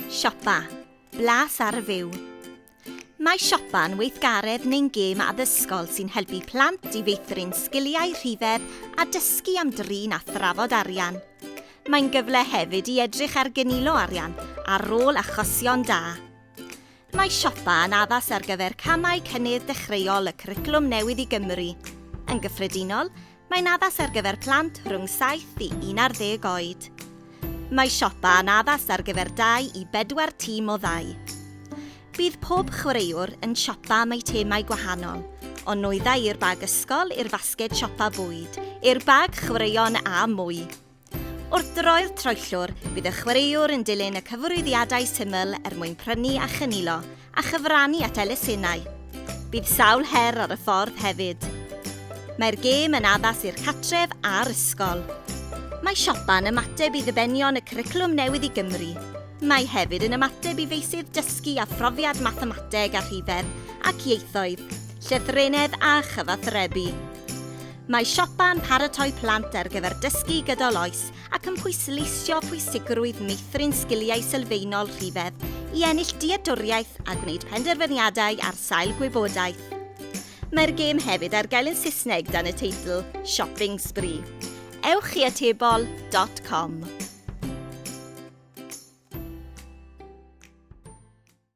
Siopa. Blas ar y fyw. Mae siopa'n weithgaredd neu'n gêm addysgol sy'n helpu plant i feithrin sgiliau rhifedd a dysgu am drin a thrafod arian. Mae'n gyfle hefyd i edrych ar gynilo arian a rôl achosion da. Mae siopa yn addas ar gyfer camau cynnydd dechreuol y Cwricwlwm Newydd i Gymru. Yn gyffredinol, Mae'n addas ar gyfer plant rhwng 7 i 11 oed. Mae siopa yn addas ar gyfer 2 i 4 tîm o ddau. Bydd pob chwaraewr yn siopa am eitemau gwahanol, o nwyddau i'r bag ysgol i'r fasged siopa bwyd, i'r bag chwaraeon a mwy. Wrth droi'r troellwr, bydd y chwaraewr yn dilyn y cyfarwyddiadau syml er mwyn prynu a chynilo a chyfrannu at elusennau. Bydd sawl her ar y ffordd hefyd. Mae'r gêm yn addas i'r catref a'r ysgol. Mae siopa'n ymateb i ddibenion y cwricwlwm newydd i Gymru. Mae hefyd yn ymateb i feysydd dysgu a phrofiad mathemateg a rhifedd ac ieithoedd, llythrennedd a chyfathrebu. Mae siopa yn paratoi plant ar gyfer dysgu gydol oes ac yn pwysleisio pwysigrwydd meithrin sgiliau sylfaenol rhifedd i ennill dealltwriaeth a gwneud penderfyniadau ar sail gwybodaeth. Mae'r gêm hefyd ar gael yn Saesneg dan y teitl Shopping Spree. Ewch i atebol dot com.